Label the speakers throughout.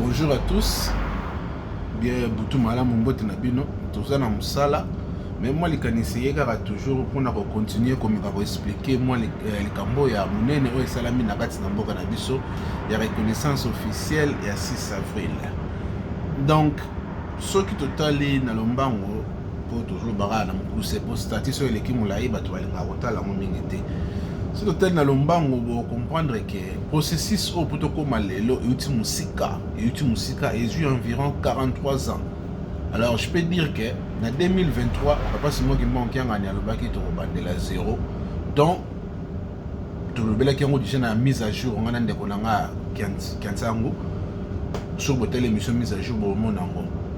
Speaker 1: Bonjour à tous. Bien butu malamu mbote na bino. Toza na musala. Mais moi likanisi ye kaka toujours mpona ko continuer komeka ko expliquer moi euh, likambo ya munene oyo esalami na kati na mboka na biso ya reconnaissance officielle ya 6 avril. Donc soki totali na lombango mpo toujours baka na mokuse mpo stati soki eleki molai bato balingaka kotala yango mingi te soki totali na lombango bocomprendre ke Processus oyo mpo tokóma lelo euti mosika, euti mosika, ezwi environ 43 ans. Alors je peux dire que na 2023 Papa Simon Kimbangu Kiangani alobaki tokobandela zero donc tolobelaki yango déjà na mise à jour ngai na ndeko na ngai Kiansangu soki botali émission mise à jour bomona yango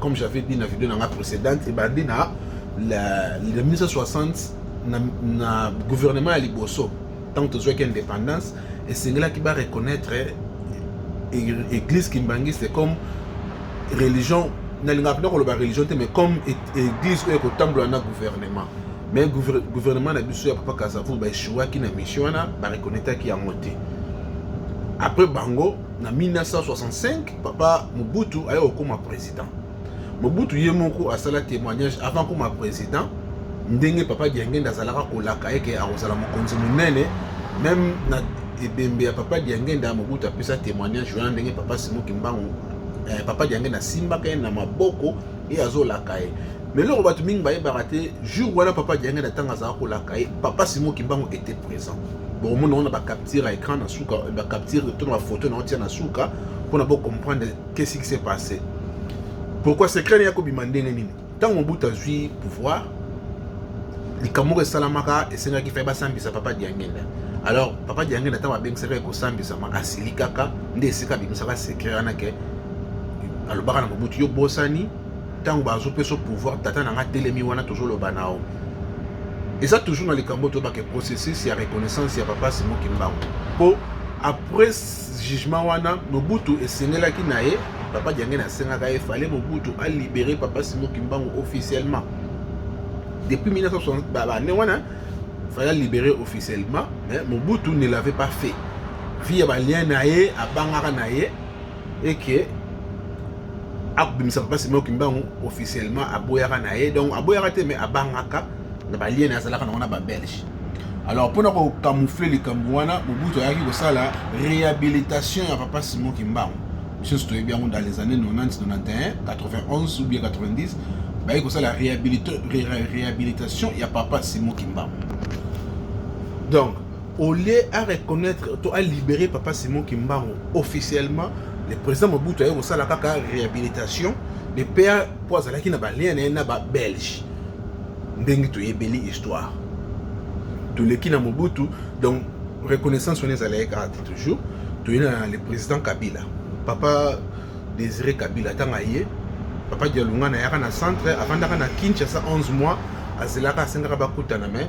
Speaker 1: Comme j'avais dit na vidéo na nga précédente ebandi na la, le 1960 na, na gouvernement ya liboso ntango tozwaki indépendance esengelaki ba reconnaître église kimbanguiste comme religion nalingaka mpenza koloba religion te mais comme église oyo ekotambola na gouvernement mais gouvernement na biso ya papa kasavu baechouaki na mission wana bareconnetaki yango te après bango na 1965 Papa Mobutu aye kokoma president. Mobutu ye moko asala témoignage avant koma president ndenge papa Diangenda azalaka kolaka yeke akozala mokonzi monene meme na ebembe ya papa Diangenda Mobutu apesa témoignage wana ndenge papa Simo Kimbangu eh, papa Diangenda asimbaka ye na maboko ye azolaka ye me eloko bato mingi bayebaka te jour wana papa diangenda ntango azalaka kolaka ye papa simo kimbangu était présent bokomona wana bacapture ya écran na suka bacapture to na bafoto na otia na suka mpona bocomprendre qu'est-ce qui s'est passé pourquoi secret ne ya kobima ndenge nini ntango mobutu azwi pouvoir likambo moko esalamaka esengaki fai basambisa papa diangenda alors papa diangenda ntango abengisaka ye kosambisama asilikaka nde esika abimisaka secret wana ke alobaka na mobutu yo bosani ntango bazopesa pouvoir tata na nga telemi wana tozoloba nao eza toujours na likambo toyebake processus ya reconnaissance ya papa simo kimbangu mpo après jugement wana mobutu esengelaki na ye papa diangene asengaka ye fale mobutu alibere papa simo kimbangu officiellement depuis 1960 bane wana fale alibere officiellement mais mobutu ne l'avait pas fait vie ya balien na ye abangaka na ye et que akobimisa papa Simon Kimbangu officiellement aboyaka na ye donc aboyaka te mais abangaka na balien azalaka nango na babelge alors mpona kocamoufle likambo wana mobutu ayaki kosala réhabilitation ya papa Simon Kimbangu biso toyebi yango dans les années 90 91 91 ou bien 90 bayaki kosala réhabilitation ya papa Simon Kimbangu donc au lieu a reconnaitre to a libérer papa Simon Kimbangu officiellement le président Mobutu aye kosala kaka réhabilitation de père mpo azalaki na balien na ye na babelge ndenge toyebeli histoire toleki na Mobutu donc reconnaissance wana ezalaki kaka te toujours toye na le président Kabila papa Désiré Kabila ntango aye papa Dialungana ayaka na centre avandaka na Kinshasa 11 mois azelaka asengaka bakutana mais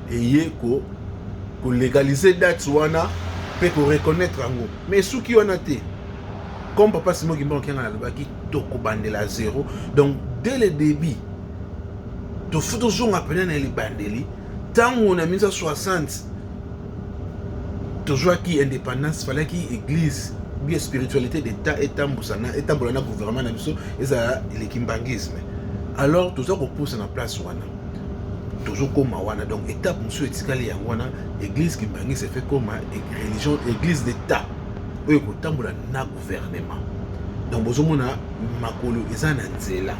Speaker 1: eye ko ko legaliser date wana mpe ko reconnaître yango mais esuki wana te comme papa simon kimba okianga nalobaki tokobandela zero donc dès le début tofu tozonga mpena na libandeli ntango na 1960 tozwaki indépendance falaki église bia spiritualité d'état etambusana etambola na gouvernement na biso ezala elekimbangisme alors toza kopusa na place wana tozo koma wana donc etape mosusu etikali yango wana eglise kimbangisa efe koma religion eglise d'etat oyo ekotambola na gouvernement donc bozomona makolo eza na nzela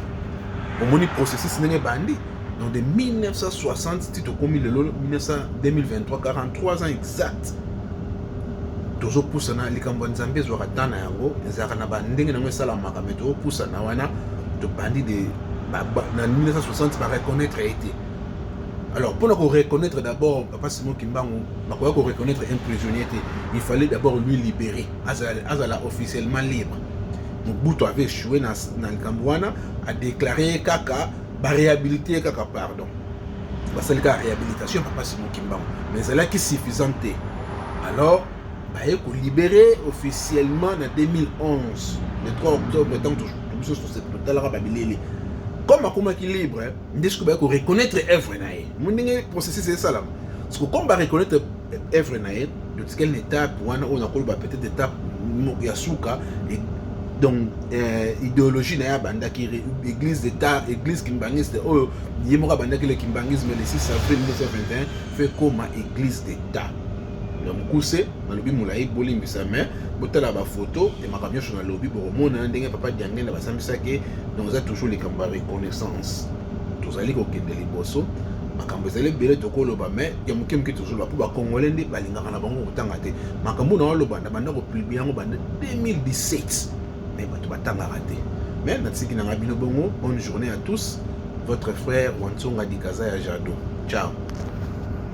Speaker 1: omoni processus ndenge ebandi donc de 1960 ti tokomi lelo 2023 43 ans exact tozopusana likambo ya nzambe ezwaka ntan na yango ezalaka na bandenge na yango esalamaka me tozopusana wana tobandi de ba, ba, na 1960 ba reconnaître ye te alors mpona ko reconnaître d'abord papa simon kimbangu bakoya ko reconnaître un prisonnier te il fallait d'abord lui libérer azala, azala officiellement libre mobutu avait échoué na, na likambo wana adéclare ye kaka baréhabilite ye kaka pardon basali kaka réhabilitation papa simon kimbangu mais ezalaki suffisante te alors baye ko libere officiellement na 2011 le 3 octobre ntango biso totalaka babilele comme akomaki libre nde soki baye ko reconnaître œuvre na ye mo ndenge processus esalama soki comme ba reconnaître œuvre na ye totikali na étape wana oyo nakoloba peut-être étape ya suka donc euh, idéologie na ye abandaki église d'état église kimbanguiste oyo ye moko abandaki le kimbanguisme le 6 avril 1921 fe koma église d'état na mukuse nalobi molayi bolimbisa mais botala ba photo ya makambo nyonso nalobi bokomona ndenge papa diangenda basambisaki donc eza toujours likambo ya reconnaissance tozali kokende liboso makambo ezali ebele tokoloba mais ya moke moke tozoloba mpo bakongole nde balingaka na bango kotanga te makambo na waloba na banda kopublie yango banda 2017 mais bato batangaka te mais natiki nanga bino bongo bonne journée à tous votre frère wansonga dikaza ya jado ciao